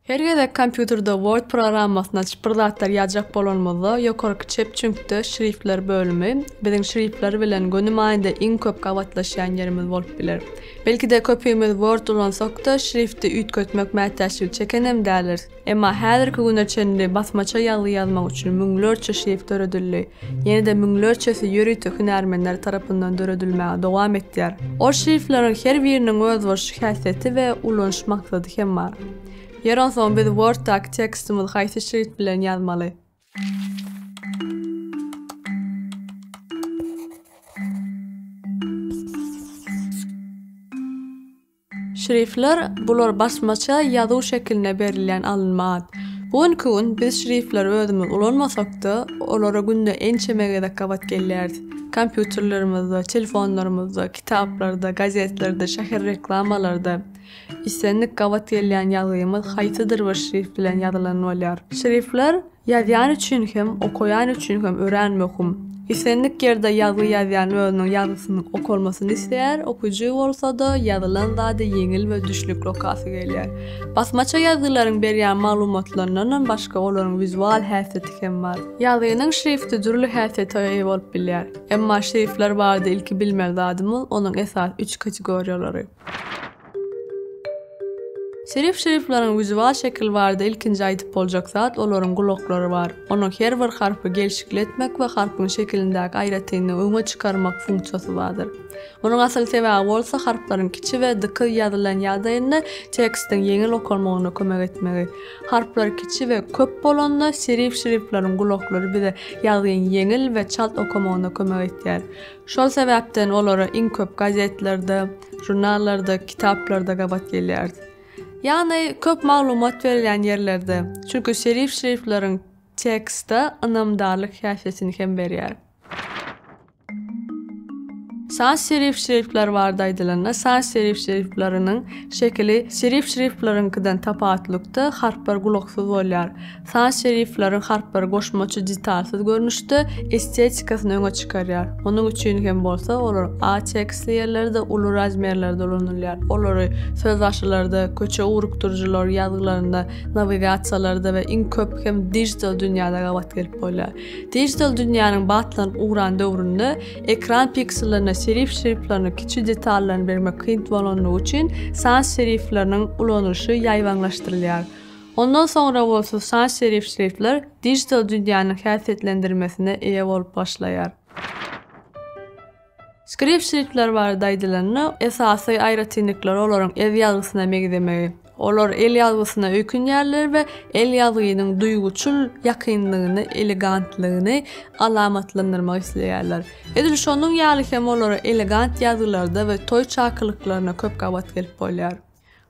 Her gezek kompýuterde Word programmasyny açyp bir zatlar ýazjak bolanymyzda ýokarky çep çüňkde Şriftler bölümi biziň şriftler bilen göni manyda iň köp gabatlaşýan ýerimiz bolup biler. Belki-de köpimiz Word ulansak-da şrifti üýtgetmek mätäçligi çekenem däliris. Emma häzirki güne çenli basmaça ýazgy ýazmak üçin müňlerçe şrift döredildi. ýene-de müňlerçesi ýörite hünärmenler tarapyndan döredilmäge dowam etýär. Ol şriftleriň her biriniň özboluşly häsiýeti we ulanyş maksady hem bar. Ýeri onsoň biz Word-daky tekstimizi haýsy şrift bilen ýazmaly? Şrifler, bular basmaça ýazuw şekilinde berilýän alynma at. Bu günki gün biz şrifleri özümiz ulanmasak-da, olara günde ençeme gezek gabat gelýäris. Kompýuterlerimizde, telefonlarymyzda, kitaplarda, gazetlerde, şäher reklamalarda islendik gabat gelýän ýazgymyz haýsydyr bir şrif bilen ýazylany bolýar. Şrifler. Ýazýan üçin hem, okaýan üçin hem örän möhüm. Islendik ýerde ýazgy ýazýan özüniň ýazgysynyň okalmasyny isleýär, okyjy bolsa-da ýazylan zady ýeňil we düşnükli okasy gelýär. Basmaça ýazgylaryň berýän maglumatlaryndanam başga olaryň wizual häsiýeti hem bar. Ýazgynyň şrifti dürli häsiýete eýe bolup bilýär. Emma şrifler barada ilki bilmeli zadymyz onuň esasy üç kategoriýalary. Şerif şerifleriň ýüzi bar şekil barada ilkinji aýdyp boljak zat olaryň gulaklary bar. Onuň her bir harpy gelşikli etmek we harpyň şekilindäki aýratynlygy öňe çykarmak funksiýasy bardyr. Munuň asyl sebäbi bolsa harplaryň kiçi we dykyz ýazylan ýagdaýynda tekstiň ýeňil okalmagynda kömek etmegi. Harplar kiçi we köp bolanda şerif şerifleriň gulaklary bize ýazgyň ýeňil we çalt okamagynda kömek etýär. Şol sebäpden olara iň köp gazetlerde, žurnallarda, kitaplarda gabat gelýäris. Ýagny, köp maglumat berilýän ýerlerde. Çünki şerif şriftleriň tekste ynamdarlyk häsiýetini hem berýär. Şans şerif şrifler barada aýdylanda, şans şerif şrifleriniň şekili şerif şriftleriňkiden tapawutlykda harplar gulaksyz bolýar. Sans serifleriň harplary goşmaça detalsyz görnüşde estetikasyny öňe çykarýar. Munuň üçin hem bolsa olar A tekstli ýerlerde uly razmerlerde ulanylýar. Olary sözbaşylarda, köçe ugrukdyryjylar ýazgylarynda, nawigasiýalarda we iň köp hem dijital dünýäde gabat gelip bolýar. Dijital dünýäniň batlanyp ugran döwründe ekran piksellerine serif şriftleriň kiçi detallaryny bermek kyn bolandygy üçin sans serifleriniň ulanylyşy ýaýbaňlaşdyrylýar. Ondan soňra bolsa sans serif şriftler dijital dünýäniň häsiýetlendirmesine eýe bolup başlaýar. Skript şriftler barada aýdylanda, esasy aýratynlyklary olaryň ez ýazgysyna meňzemegi. Olar el ýazgysyna öýkünýärler we el ýazgynyň duýguçyl ýakynlygyny, elegantlygyny alamatlandyrmak isleýärler. Edil şonuň ýaly hem olara elegant ýazgylarda we toý çakylyklaryna köp gabat gelip bolýar.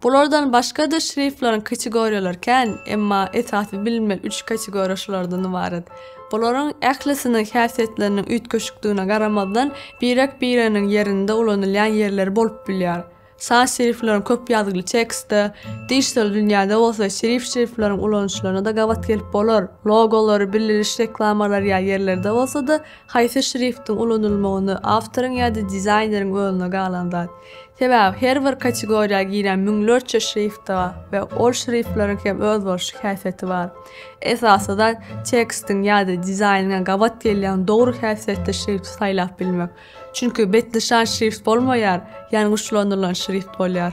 Bulardan başga-da şriftleriň kategoriýalary kän, emma esasy bilinmeli üç kategoriýa şulardan ybarat. Bularyň ählisiniň häsiýetleriniň üýtgeşikdigine garamazdan, birek-bireginiň ýerinde ulanylýan ýerleri bolup bilýär. San şriftleriň köp ýazgyly tekstde, dijital dünýäde bolsa serif şriftleriň ulanyşylaryna-da gabat gelip bolar, logolary, bildiriş reklamalary ýaly ýerlerde bolsa-da, haýsy şriftiň ulanylmagyny awtoryň ýa-da dizaýneriň özüne galan zat. Sebäbi her bir kategoriýa giren müňlerçe şrifta we ol şriftleriň hem özboluşly häsiýeti bar. Esasy zat tekstiň ýa-da dizaýnyňa gabat gelýän dogry häsiýetli şrifti saýlap bilmek. Çünki betnyşan şrift bolmaýar, ýangyçlanylan şrift bolýar.